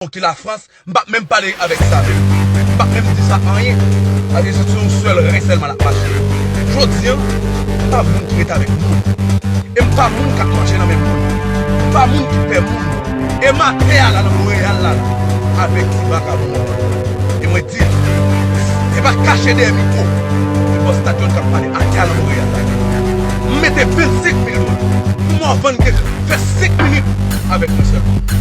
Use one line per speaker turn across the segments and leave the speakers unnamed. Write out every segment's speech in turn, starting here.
Ou ki lafrans m pap menm pale avèk sa menm m pap menm di sa anyen paske se sou yon sèl ren sèlman l ap mache jodi an m pa moun ki ret avèk moun e m pa moun k ap manje nan men moun m pa moun ki pè moun e m atè a la nan Monreyal la avèk ti vakabon an e mwen di l se pa kache dèyè mikwo se bòs tatyol k ap pale atè a nan Monreyal la m mete 25 mil dola pou m vann kèk fè 5 minit avèk mwen sèlman.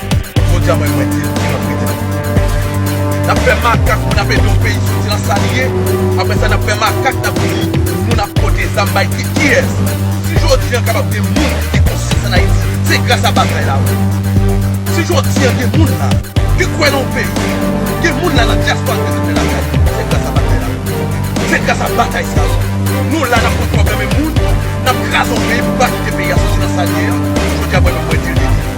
Jodi a mwen mwen di li antre tèt li. Nap fè makak pou nap ede yon peyi soti nan sa li ye, aprè sa nap fè makak nap di nou nap pote zam bay ki kiyès? Si jodi an kapab gen moun ki gen konsyans an Ayiti, se gras a batay la wi. Si jodi an gen moun la ki kwè nan yon peyi, gen moun la nan dyaspora ki rete lakay yo, se gras a batay la wi. Se gras a batay sa wi. Nou la nap pran pwoblèm yon moun, nap kraze yon peyi pou pa kite peyi a soti nan sa li ye an, jodi a mwen menm mwen di li.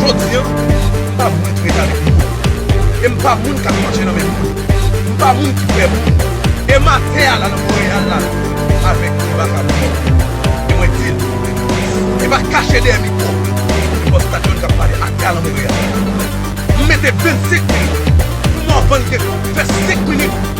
Jodi an, m pa moun trèt avèk moun. E m pa moun k ap manje nan men moun. M pa moun ki pè moun. E m atè a la nan Monreyal la avèk Eva Cabré. E mwen di l, e pa kache dèyè mikwo e bòs Stadion k ap pale atè a nan Monreyal. M mete 25 minit pou m wè w vann kèk fè 5 minit.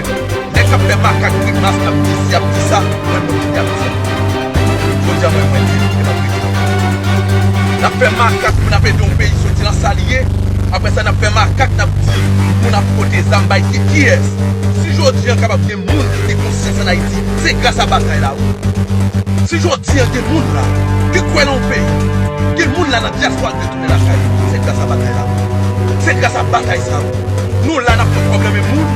Nèg kap fè makak grimas ap di si ap di sa mwen menm kite ap di li jodi a mwen mwen di li epa prezidan peyi nap fè makak pou nap ede yon peyi soti nan sal ye aprè sa nap fè makak nap di moun ap pote zam bay ki kiyès si jodi an kapab gen moun ki gen konsyans an ayiti se gras a batay la wi si jodi an gen moun la ki kwè nan yon peyi gen moun la nan dyaswa. Nèg ap chaje wi se gras a batay la wi se gras a batay sa wi nou la nap konn probleme moun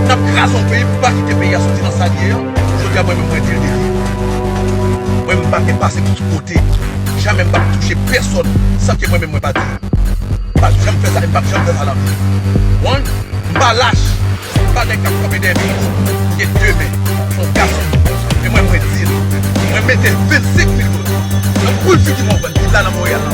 nap kraze yon peyi pou pa kite peyi a soti nan sal ye an jodia mwen menm mwen dil deja mwen menm pake pase tout kote jamè m pap touche pèsòn san ke mwen menm mwen pa dil m pap janm fè sa e m pap janm fè sa nan vi m one m pa lach m pa nèg kap kanpe dèyè peyi m gen de men m on gason e mwen mwen dil mwen mete 25 mil dola nan poul figi mwen ou konprann villa nan Montréal la.